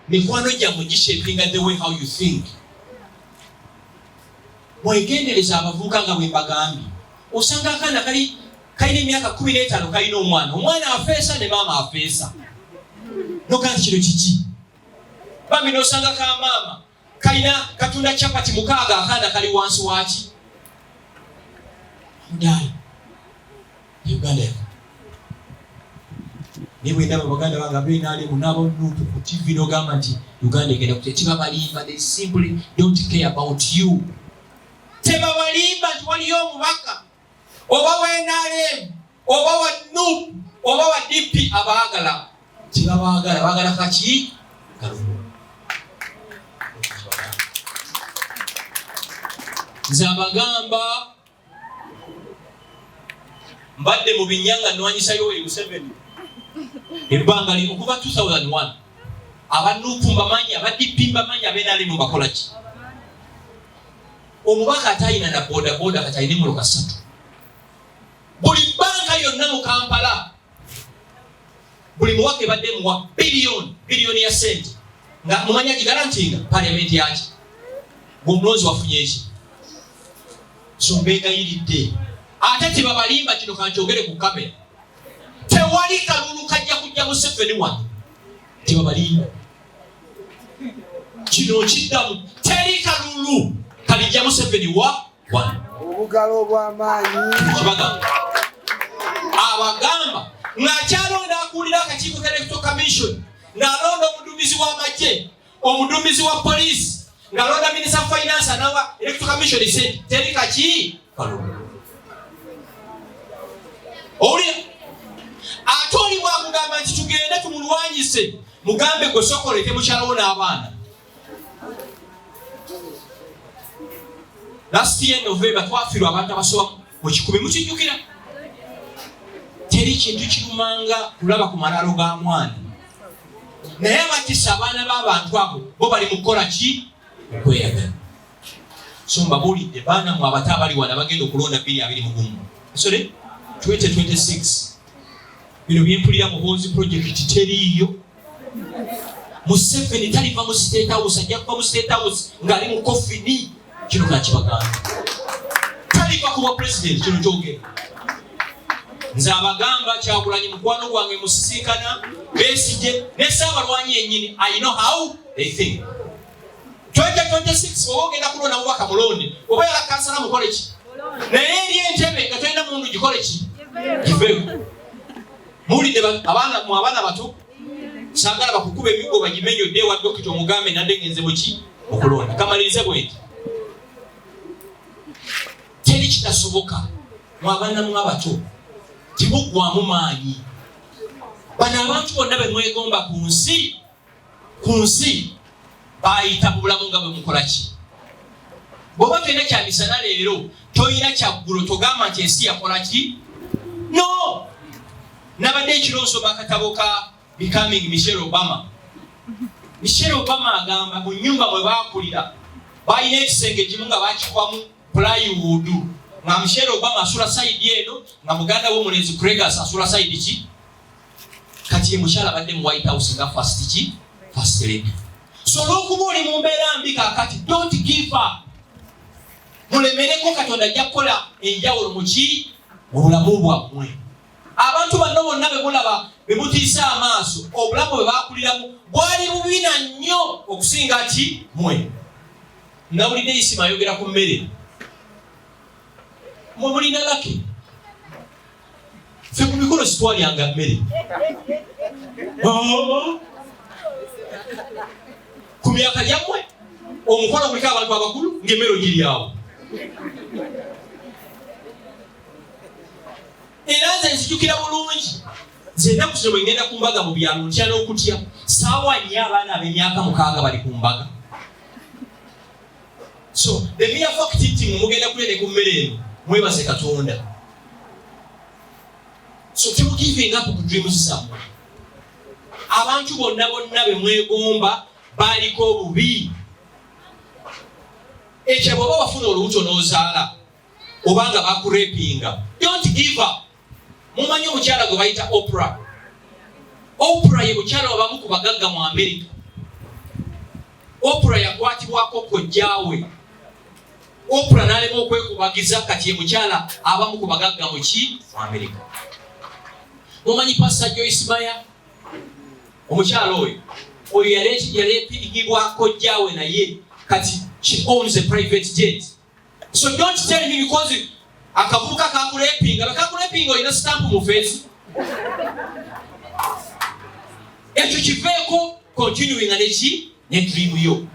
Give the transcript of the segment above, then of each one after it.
mikwano gyammwe gishapinga the way how you think mwegendereza abavubuka nga bwembagambye osanga akaana kali kalina emyaka kumi n'etaano kalina omwana omwana afeesa ne maama afeesa nokanti kino kiki bambi nosanga ka maama kalina katunda chapati mukaaga akaana kali wansi waki mudaala uganda yaka naye bwendaba baganda bange abenalimu nabonuntu ku tv nogamba nti uganda egenda kutya tebabalimba they simply don't care about you tebabalimba nti waliyo omubaka oba wa nrm oba wa nup oba wa dp abaagala kyebabaagala baagala kaki nze abagamba mbadde mu binya nga nwanyisa yoweri museveni ebbanga lino okuva 2001 abanupu mbamanyi abadippi mbamanyi abenalimu bakolaki omubaka atayina na bodaboda kati alina emolo kasatu buli banka yonna mu kampala buli muwaka ebadde muwa biliyoni biliyoni ya sente nga mumanya gigalantinga paliamenti yaki gweomulonzi wafunye eki sombeegayiridde ate tebabalimba kino kankyogere ku kamera tewali kalulu kajja kujja museveni wano tebabalimba kino okiddamu teri kalulu kalijja museveni wa obugalo obwamaanyi kibagamba abagamba ng'akyalonda akulira akakiiko ka electoral commission ng'alonda omudumizi w'amagye omudumizi wa poliisi ng'alonda minisita finance anawa electoral commission se teri kaki owulira ate oli bwakugamba nti tugende tumulwanyise mugambe gwe sokolete mukyalawo n'abaana last year november twafirwa abantu abasoba mu kikumi mukijjukira teri kintu kirumanga kulaba ku malaalo ga mwana naye abakisa abaana b'abantu abo bo bali mu kukola ki okweyagala so mbabuulidde baana mwe abato abali wano abagenda okulonda bbiri abiri mugumu sore 2026 bino byempulira muhoozi project teriiyo museveni taliva mu state house ajja kuva mu state house ng'ali mu kofini kino kakibagamba taliva kuba president kino kyogera nze abagamba kyagulanyi mukwano gwange musisinkana besije ne saabalwanyi yenyini i know how they think 2026 oba ogenda kulonda mubaka mulonde oba yala kansala mukole ki naye eri entebe nga tolina mundu gikole ki giveyo muwulidde abaana mu abaana bato sagala bakukuba emigo bagimenyo dde ewa dokita omugambe nadde ngenze muki okulonda kamalirize bwenti teri kitasoboka mu abaana mu abato tibuggwamu maanyi bano abantu bonna bemwegomba ku nsi ku nsi bayita mu bulamu nga bwe mukola ki bwoba tolina kyamisana leero tolina kyaggulo togamba nti ensi yakola ki no nabadde ekiro nsoma akatabo ka becoming michelle obama michelle obama agamba mu nyumba mwe bakulira balina ekisenge ekimu nga bakikwamu pulaiwuudu nga michelle obama asula saidi eno nga muganda wo omulenzi gregas asula saidi ki kati emukyala badde mu white house nga fast ki fast lady so olwokuba oli mu mbeera mbi kakati don't give up mulemereko katonda ajja kukola enjawulo muki mu bulamu bwammwe abantu banno bonna bemulaba bemutiisa amaaso obulamu bwe bakuliramu bwali bubina nnyo okusinga ki mwe nawulidde isima ayogera ku mmere mwe mulina laki ffe ku mikolo sitwalyanga mmere ku myaka gyammwe omukolo guliko abantu abakulu ng'emmere ogiryawo era nze nzijukira bulungi nze ennaku zino bwe ŋŋenda ku mbaga mu byalo ntya n'okutya saawa nnyo abaana ab'emyaka mukaaga bali ku mbaga so the mere fact nti mugenda kulya ne ku mmere eno mwebaze katonda so temugiving up ku dreams zammwe abantu bonna bonna be mwegomba baaliko obubi ekyo bwaba wafuna olubuto n'ozaala obanga bakurepinga don't give up mumanyi omukyala gwe bayita opera opera ye mukyala wabamu ku bagagga mu amerika opera yakwatibwako kojjawe opera nalema okwekubagiza kati ye mukyala abamu ku bagagga muki mu amerika mumanyi pasa joismaya omukyala oyo oyo yaleepirigibwako jjawe naye kati she owns a private jet So don't tell me because akavubuka kakulepinga bakakulepinga olina stamp mu face ekyo kiveeko continuing neki ne dream yo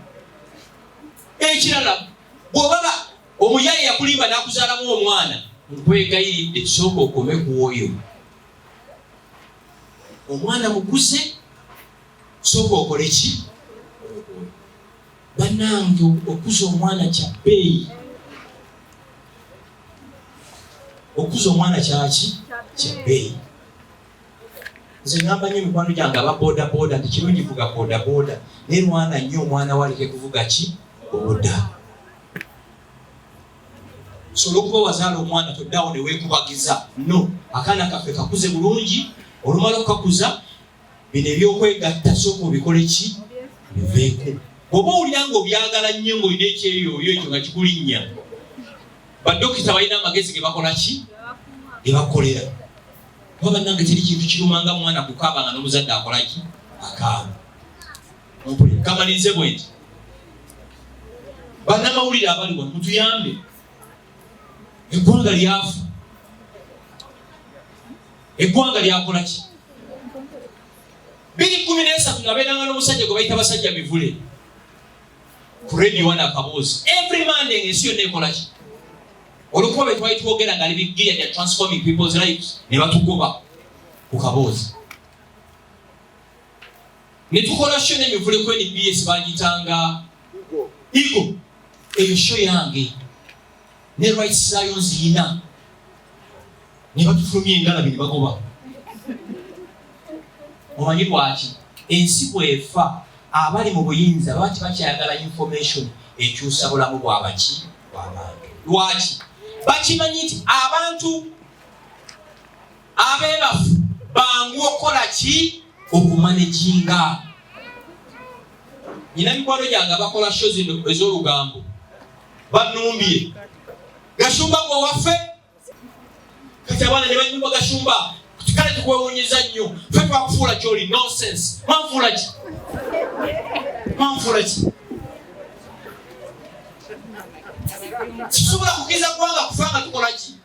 ekirala bwobaba omuyaye yakulimba nakuzalamu omwana nkwegayiridde sooka okome kuwoyo omwana mukuze sooka okole ki Banange okuza omwana kya bbeeyi. Okuza omwana kyaki kya bbeeyi. Nze ngamba nnyo mikwano gyange aba boda boda nti kirungi vuga boda boda naye lwana nnyo omwana waleke kuvuga ki boda. Osobola okuba wazaala omwana toddawo ne weekubagiza. No, akaana kaffe kakuze bulungi olumala okukakuza bino ebyokwegatta sooka obikole ki biveeko bwoba owulira nga obyagala nnyo ngaolina ekyeyoyo ekyo nga kikulinnya badokita balina amagezi ge bakola ki ge bakolera kuba bannange teri kintu kiruma nga mwana kukaaba nga n'omuzadde akola ki akaaba kamalirize bwe nti bannamawulire abali wano mutuyambe eggwanga lyafu eggwanga lyakola ki biri kumi n'esatu nabeeranga n'omusajja gwe bayita basajja mivule ku radio wana akaboozi every monday ng'ensi yonna ekola ki olwokuba bwe twali twogera nga ali bigiya ya transforming people's lives ne batugoba ku kaboozi ne tukola sho n'emivule ku nbs bagitanga igo eyo sho yange ne rights zayo nziyina ne batufulumya engalabi ne bagoba omanyi lwaki ensi bwefa abali mu buyinza baba tebakyayagala information ekyusa bulamu bwabaki bwabantu lwaki bakimanyi nti abantu abeebafu bangu okukola ki okumaneginga nyina mikwano gyange abakola sho zino ez'olugambo banumbye gashumba gwe waffe kati abaana ne banyumba gashumba kale tukwewunyiza nnyo fe twakufuula kyoli nonsense manfuula ki manfuula ki sisobola kugeza kubanga kufa nga tukola ki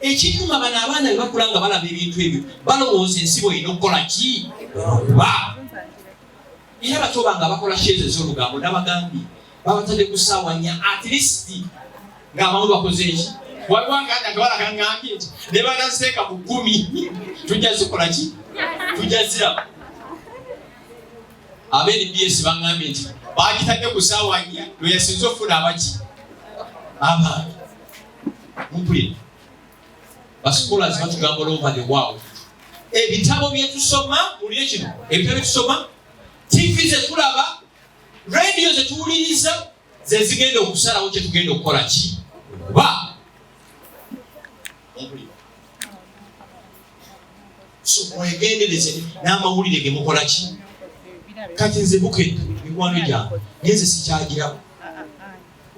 Ekituma bano abaana bwe bakula nga balaba ebintu ebyo balowooza ensi bweyina okukola ki okuba era bato bange abakola sheeza ez'olugambo nabagambye babatadde ku ssaawa nnya at least ng'abamu bakoze eki waliwo aganda gawala kangambye nti ne banaseeka ku kkumi tujja zikola ki tujja ziraba abenbs bangambye nti bagitadde ku ssaawa nnya lwe yasinze okufuna abaki abantu mpulira bascholars batugamba all over the world ebitabo byetusoma mulire kino ebitabo byetusoma tv zetulaba radio zetuwuliriza zezigenda okusalawo kyetugenda okukola ki kuba mwegendereze n'amawulire gemukola ki kati nze bukedde mikwano gyange naye nze sikyagirawo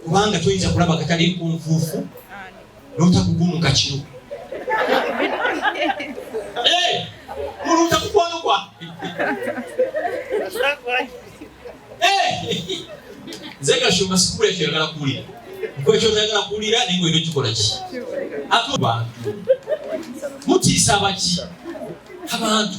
kubanga toyinza kulaba katali nkunfuufu notakugumuka kiro eh, mulunta kukwano kwa eh, nze gashumba sikubula kyoyagala kuwulira nkwekyotayagala kuwulira naye ngolina okikola ki ate bantu mutiisa abaki abantu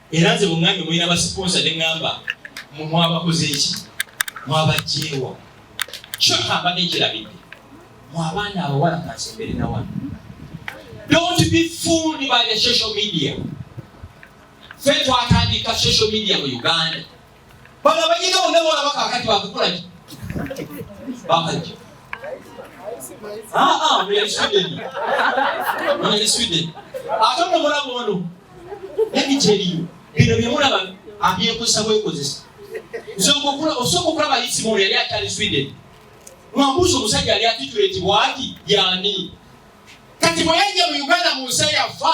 era nze bungambye mulina basiponsa ne ŋŋamba mu mwabakoze eki mwabajjeewa kyo kambadde nkirabidde mu abaana abawala kansembere na wano don't be fooled by the social media fe twatandika social media mu uganda Bano abayiga bonna bolaba kakati bakukulaki bakajja aa muyali sweden muyali sweden ate ono mulaba ono nemiteriyo bino byemulaba abyekozesa bwekozesa osooka okulaba isimono yali akyali sweden mwambuusa omusajja yali atituleti bwati yani kati bweyajja mu uganda mu nsi yafa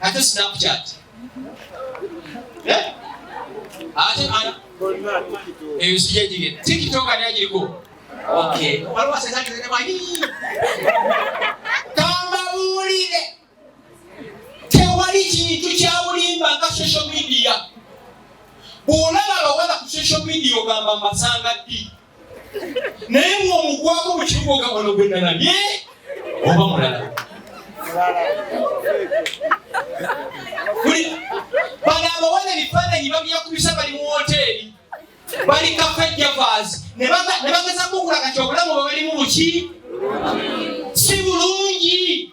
ate snapchat eh? ate ana eyo sijejige tiktok ani ajiriko okay waliwo sesati zene mwayi kambabuulire tewali kintu kyawulimba nga social media bwolaba abawala ku social media ogamba masanga ddi naye ng'omukwako mu kibuga ogabano gwe nalabye oba mulala bano abawala ebifaananyi babiyakubisa bali mu woteeri bali kafejavas ne bagezako okulaga ti obulamu bwe balimu buki si bulungi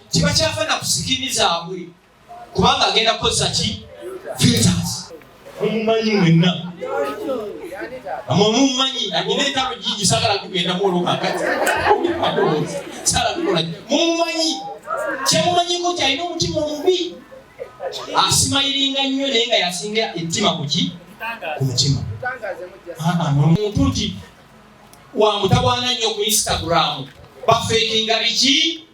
tebakyafa na kusikini zaabwe kubanga agenda kukozesa ki filters mumumanyi mwenna amwe mumumanyi anyina entalo jingi sagala kugenda mwolo kakati sala kukola mumumanyi kyemumanyiko kyalina omutima omubi asimayiringa nnyo naye nga yasinga ettima kuki ku mutima omuntu nti wamutawaana nnyo ku instagram bafeekinga biki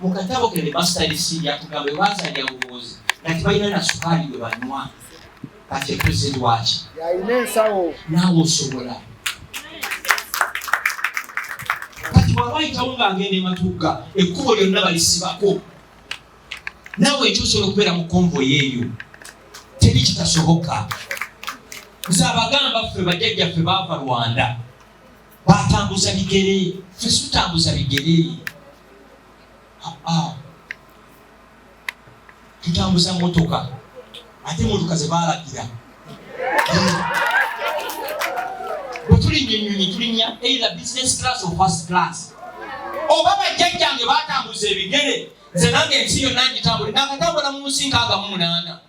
mu katabo ke bemastadisi yatugamba ebazalya bubuuzi nga tebalina na sukaali gwe banywa kati epresident waki yalina ensawo naawe osobola kati bwaba ayitawo nga agenda ematugga ekkubo lyonna balisibako naawe ekyo osobola okubeera mu konvoy eyo teri kitasoboka nze abagamba ffe bajjajjaffe baava rwanda batambuza bigere ffe situtambuza bigere ah, ah. tutambuza motoka ate motoka zebalagira bwetulinya enyonyi tulinya either business class or first class oba bajjajjange batambuza ebigere nze nange ensi yonna ngitambule nakatambula mu nsi nkaaga mu munaana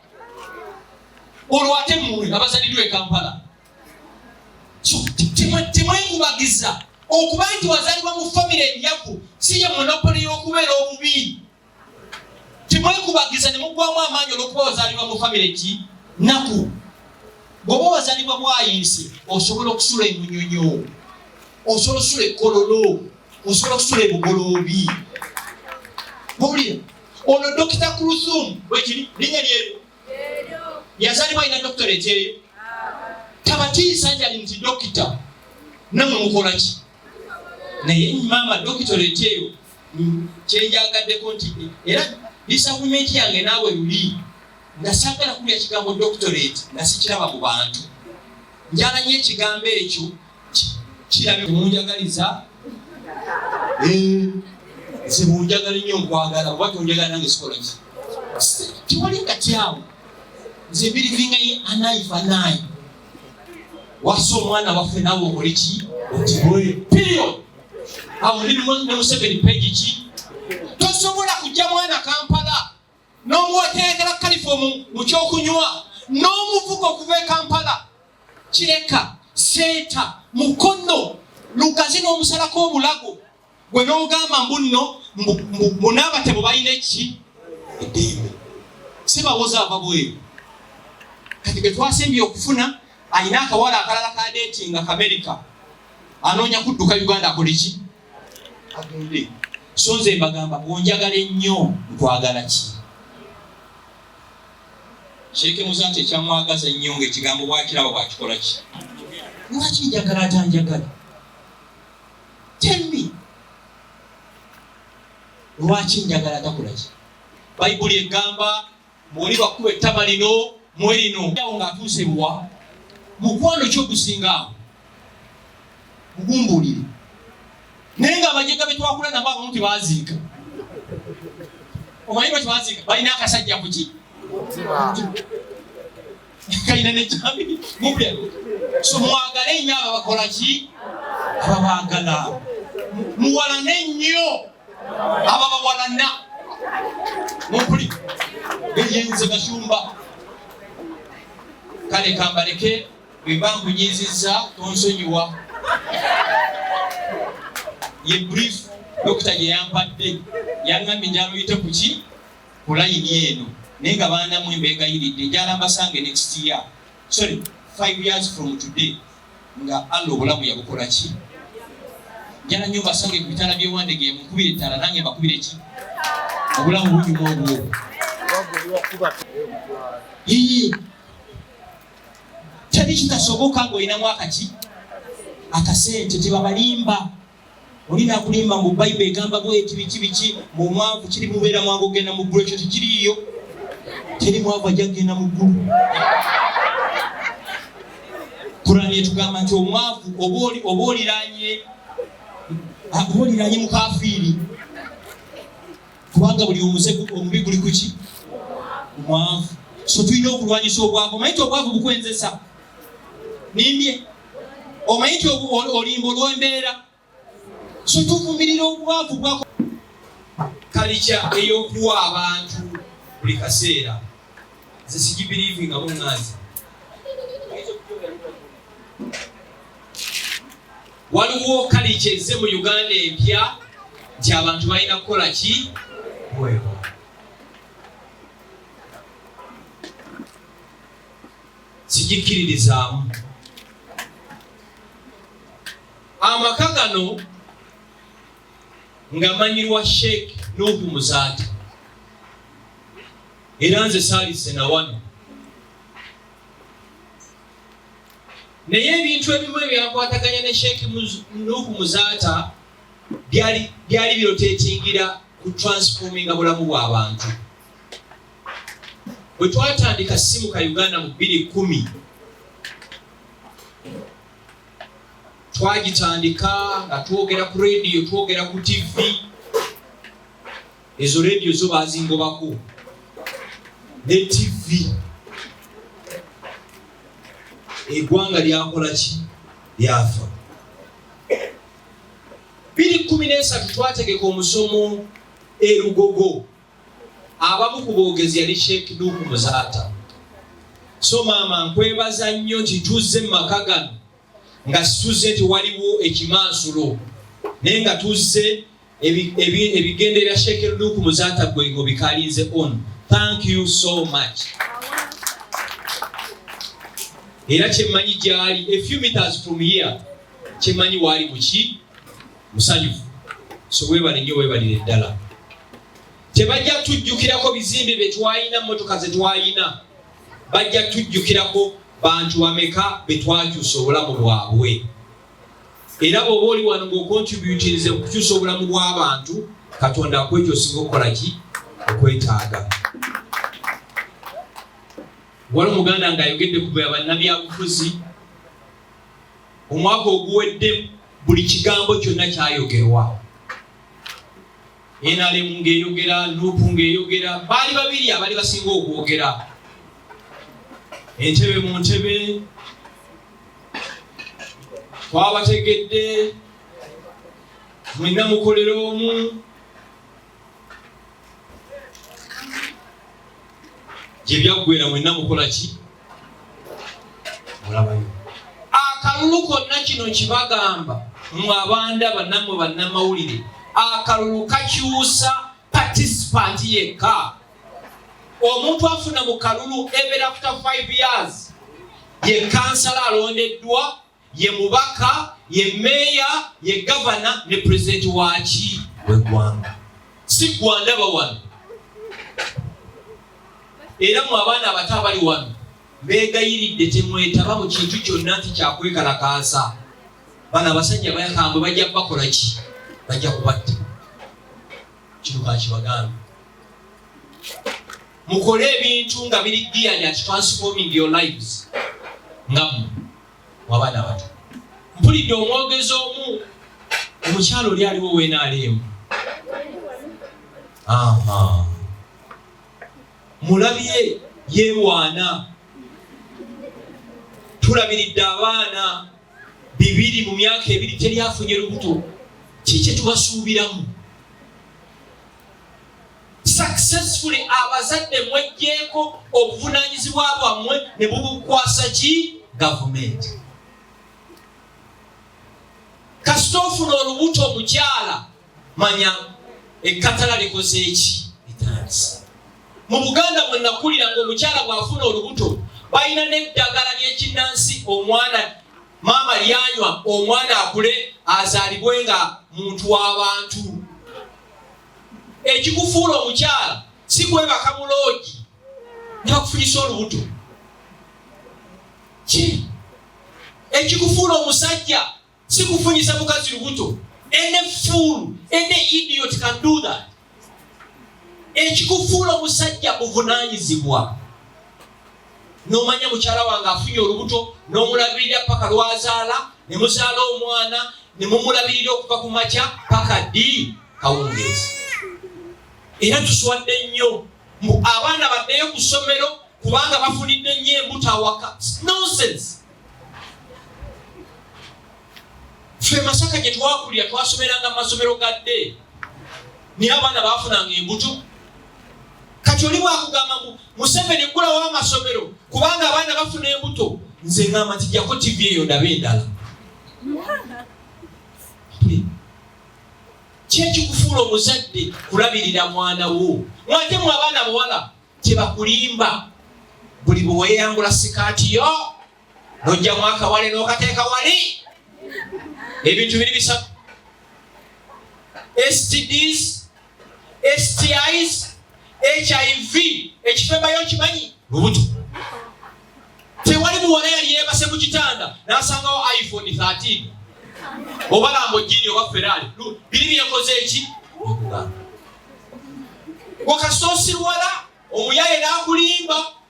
olwo ate muwe abazaliddwa e kampala temwegubagiza okuba nti wazalibwa mu famire enyaku si ye monopoli y'okubeera obubi temwegubagiza ne mugwamu amaanyi olwokuba wazalibwa mu famire ki naku bwoba wazalibwa bwayinsi osobola okusula emunyonyo osobola okusula ekololo osobola okusula ebugoloobi bwowulira ono dokita kulusumu bwekiri linya lyeryo yazalibwa alina doctorate eyo tabatiisa nti ali nti dokita namwe mukolaki naye maama doctorate eyo kyenjagaddeko nti era disagumenti yange naawe luli nga sagala kulya kigambo doctorate nga sikiraba mu bantu njalanyo ekigambo ekyo kirabye munjagaliza eh, nze munjagala nnyo nkwagala oba tonjagala nange sikolaki tewali kati awo nze birivingaye anaifa naye wasa omwana waffe nawe okole ki otibwe period awo ndi ne museveni pegi ki tosobola kujja mwana kampala n'omuwekerekera kalifomu mu kyokunywa n'omuvuka okuva e kampala kireka seeta mukono lugazi n'omusalako omulago gwe n'ogamba mbunno munaabatebo balina eki eddembe si bawoza ava bweru kati ge twasembye okufuna alina akawala akalala kadeeti nga kamerika anoonya kudduka uganda akoleki agende so nze mbagamba onjagala ennyo nkwagala ki sheeke muzanti ekyamwagaza ennyo nga ekigambo bwakiraba bwakikola ki lwaki njagala atanjagala telmi lwaki njagala takola ki bayibuli egamba Mwoli bakuba ettama lino mwe lino. Awo ng'atuuse buwa mukwano ki ogusinga awo mugumbuulire. Naye nga abajega be twakula nabo abamu tebaziika. Omanyi bwe tebaziika balina akasajja ku ki? Kalina ne kyami mubya. So mwagale nnyo ababakola ki? Ababaagala. Muwalane nnyo. ababawalana mumpuli beyenze gashumba kale kambaleke bwemba nkunyiizizza tonsonyiwa ye brief dokita gye yampadde yaŋŋambye njaloyite ku ki ku layini eno naye nga baana mwe mbeegayiridde njala mbasange next year sorry five years from today nga Allah obulamu yabukola ki njala nyo mbasange ku bitala byewandege mukubire ettala nange mbakubire ki obulamu bunyuma obwo teri kitasoboka ng'olinamu akaki akasente tebabalimba Olina akulimba mbu Bible egamba bweti biki biki mu mwavu kiri mubeera mwangu ogenda mu ggulu ekyo tekiriiyo. Teri mwavu ajja kugenda mu ggulu. Kurani etugamba nti omwavu oba oliranye oba oliranye mukafiiri kubanga buli omuze omubi guli kuki omwavu. So tulina okulwanyisa obwavu. Omanyi nti obwavu bukwenzesa. Nimbye omanyi nti olimba olwembeera so tuvumirira obwavu bwa kalikya eyokuwa abantu buli kaseera nze sigibiriivi nga bunganzi waliwo kalikya ezze mu uganda empya nti abantu balina kukola ki bwebwa sigikkiririzaamu amaka gano nga manyirwa sheikh nuhu muzaati era nze saalise na wano naye ebintu ebimu ebyakwataganya ne sheikh nuhu muzaata byali birotetingira ku transforminga bulamu bw'abantu bwe twatandika simu ka uganda mu bbiri kumi twagitandika nga twogera ku rediyo twogera ku tivi ezo rediyo zo bazingobako ne tivi egwanga lyakola ki lyafa biri kumi nesatu twategeka omusomo erugogo abamu ku boogezi yali sheikh nuuku muzaata so maama nkwebaza nnyo nti tuzze mu maka gano nga situzze nti waliwo ekimansulo naye nga tuzze ebigende bya sheikh nuuku muzaata gwego bikalinze on thank you so much era kyemmanyi gyali a few meters from here kyemmanyi waali muki musanyufu so webale nyo webalire ddala tebajja tujjukirako bizimbe byetwalina motoka zetwalina bajja tujjukirako bantu bameka betwakyusa obulamu bwabwe era bwoba oli wano ngaokontributinze okukyusa obulamu bwabantu katonda akwekyo osinga okukolaki okwetaaga wali omuganda ngaayogedde kubya bannabyabufuzi omwaka oguwedde buli kigambo kyonna kyayogerwa nrm ng'eyogera nupu ng'eyogera baali babiri abali basinga okwogera entebe mu ntebe twabategedde mwenna mukolera omu gye byaggwera mwenna mukola ki mulabayo akalulu konna kino kibagamba mwe abandaba nammwe bannamawulire akalulu kakyusa patisipanti yekka omuntu afuna mu kalulu ebeera kuta 5 years ye kansala alondeddwa ye mubaka ye meeya ye gavana ne pulezidenti waki wegwanga si gwandaba wano era mu abaana abato abali wano beegayiridde temwetaba mu kintu kyonna nti kyakwekalakaasa bano abasajja bayakambwe bajja kubakola ki bajja kubatta kino kakibagambe mukole ebintu nga biri geared at transforming your lives nga mmwe wabaana abato mpulidde omwogezi omu omukyalo oli aliwo wenaaliemu mulabye yewaana tulabiridde abaana bibiri mu myaka ebiri teryafunye lubuto ki kyetubasuubiramu successfully abazadde mwejjeeko obuvunanyizibwa bwammwe ne bubukwasa ki gavumenti kasita ofuna olubuto omukyala manya ekkatala likoze eki etandisa mu buganda mwe nakulira nga omukyala bw'afuna olubuto balina n'eddagala ly'ekinnansi omwana maama lyanywa omwana akule azaalibwe nga muntu w'abantu ekikufuula omukyala si kwebaka muloogi ntibakufunyisa olubuto ki ekikufuula omusajja si kufunyisa mukazi lubuto ene fuulu ene idiot can do that ekikufuula omusajja buvunanyizibwa nomanya mukyala wange afunye olubuto nomulabirira paka lwazaala nemuzaala omwana nemumulabirira okuva ku makya paka ddi kawungeezi era tuswadde nnyo mbu abaana baddeyo ku ssomero kubanga bafunidde nnyo embuto awaka nonsense ffe masaka gye twakulira twasomeranga mu masomero ga dde naye abaana baafunanga embuto kati oli bwakugamba mu museveni eggulawo amasomero kubanga abaana bafuna embuto nze ngamba nti jako tivi eyo ndaba endala kyekikufuula omuzadde kulabirira mwana wo mwate mu abaana bawala kyebakulimba buli bweweyambula sikaati yo nojja mwaka wale nokateeka wali ebintu biri bisatu stds stis hiv ekifembayo kimanyi lubuto tewali muwala yali yebase ku kitanda nasangawo iphone 13 oba lambojini oba ferali biri byekoze eki wakasosirwala omuyaye nakulimba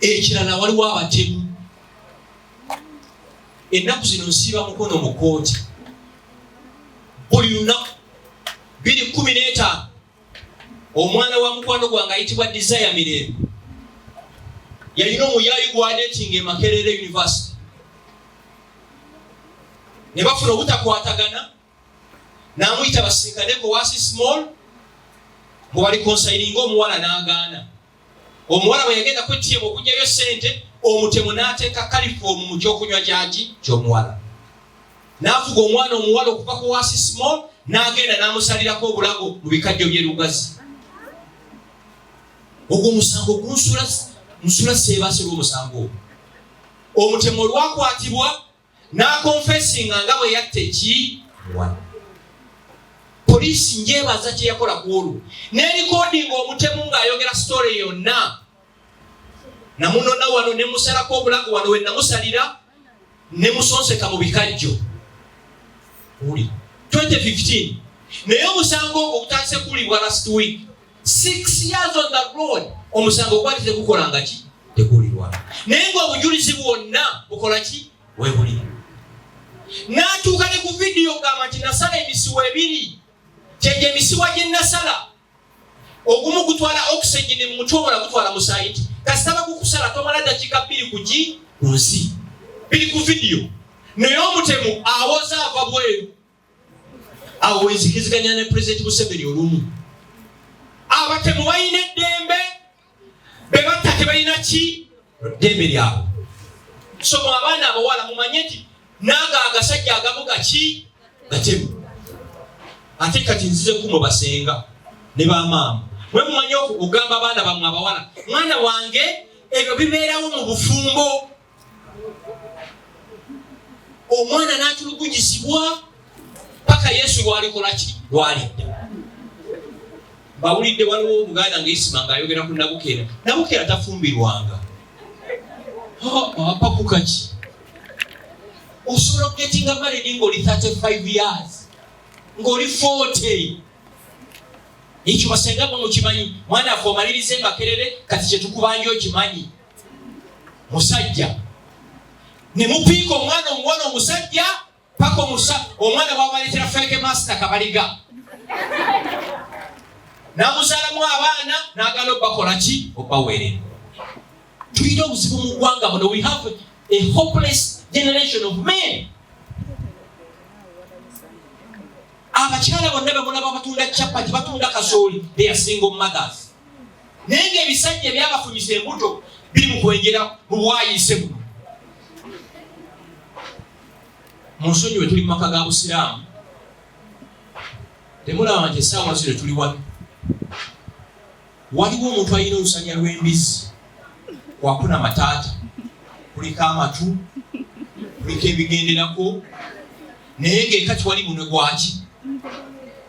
ekirala waliwo abatemu ennaku zino nsiiba mukono mu kooti buli lunaku biri kumi n'etaano omwana wa mukwano gwange ayitibwa desire mirembe yalina omuyaayi gwadetinga emakerere university ne bafuna obutakwatagana namuyita basinkaneko wasi small mbu bali konsayininga omuwala nagaana omuwala bwe yagenda kwetiyemu okugyayo sente omutemu nateeka kalifoomu mu kyokunywa kyaki kyomuwala nafuga omwana omuwala okuva ku wasi small nagenda namusalirako obulago mu bikajjo byerugazi ogwo musango gunsula nsula seebasi lwomusango ogwo omutemu olwakwatibwa n'akonfesinga nga bwe yatta eki wano poliisi njebaza kye yakola ku olwo n'erikodinga omutemu ng'ayogera sitore yonna namunona wano ne musalako obulago wano we namusalira ne musonseka mu bikajjo uli 2015 naye omusango ogwo gutandise kuwulibwa last week six years on the road omusango gwali tegukola nga ki teguwulirwa naye ngaobujulizi bwonna bukola ki webuli natuuka ne ku vidiyo gamba nti nasala emisiwa ebiri kyegyo emisiwa gye nasala ogumu gutwala oxygeni mu mutwe obola gutwala musaayi nti kasita bagukusala tomala dakiika bbiri ku gi ku nsi biri ku vidiyo naye omutemu awoza ava bweru awo wenzikiziganya ne pulezidenti museveni olumu abatemu balina eddembe bebatta tebalina ki ddembe lyabwe somo abaana abawala mumanye nti naga agasajja agamu gaki gatemu ate kati nzize kumo basenga ne bamaama mwe mumanye okugamba abaana bamwe abawala mwana wange ebyo bibeerawo mu bufumbo omwana n'atulugunyizibwa paka yesu lwalikolaki lwalidda bawulidde waliwo omuganda nga isima ngaayogera ku nabukeera nabukeera tafumbirwanga apakukaki osobola okugetinga maledi ngaoli 35 years ngaoli 40 ekyo basenga bwe mukimanyi mwana afe omalirize makerere kati kyetukubanja okimanyi musajja ne mupiika omwana omuwala omusajja paka omusa omwana bwabaleetera feke masita kabaliga namuzalamu abaana nagala obakola ki obaweerera tulina obuzibu mu ggwanga buno we have a hopeless generation of men abakyala bonna bemulaba batunda capati batunda kasooli they are single mothers naye ngaebisajja ebyabafunyisa embuto biri mukwenjera mubwayise buno munsonyi wetuli mumaka ga busiraamu temulaba nti esaawa zino tuli wano waliwo omuntu alina olusanya lwembizi kwakuna mataata kuliko amatu kuliko ebigenderako naye ngaekati wali munwe gwaki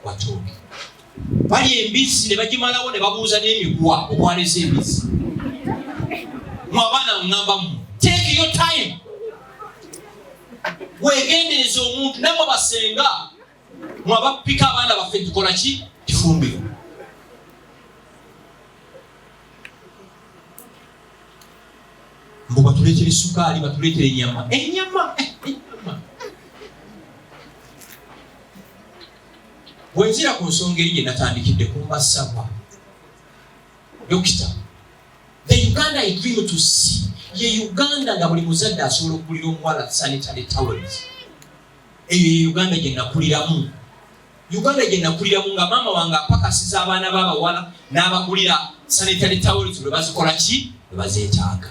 watooke bali embizzi ne bagimalawo ne babuuza n'emiguwa okwaleza embizzi mu abaana ŋŋambamu take your time wegendereza omuntu namwe basenga mu abapika abaana baffe tukola ki kifumbiro mbu batuleetera esukaali batuleetera enyama enyama eh, enyama Bwenzira ku nsonga eri gye natandikidde ku mbasabwa dokita the uganda i dream to see ye uganda nga buli muzadde asobola okugulira omuwala sanitary towels eyo ye uganda gye nakuliramu uganda gye nakuliramu nga maama wange apakasiza abaana b'abawala n'abagulira sanitary towels lwe bazikola ki lwe bazeetaaga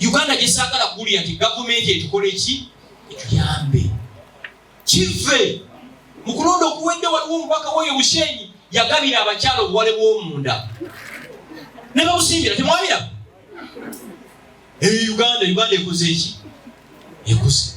uganda gyesaagala kuwulira nti gavumenti etukola eki etuyambe kivve mu kulonda okuwedde waliwo omubaka woyo mushenyi yagabira abakyala obuwale bwomunda ne babusimbira temwabira eyo uganda uganda ekoze eki ekoze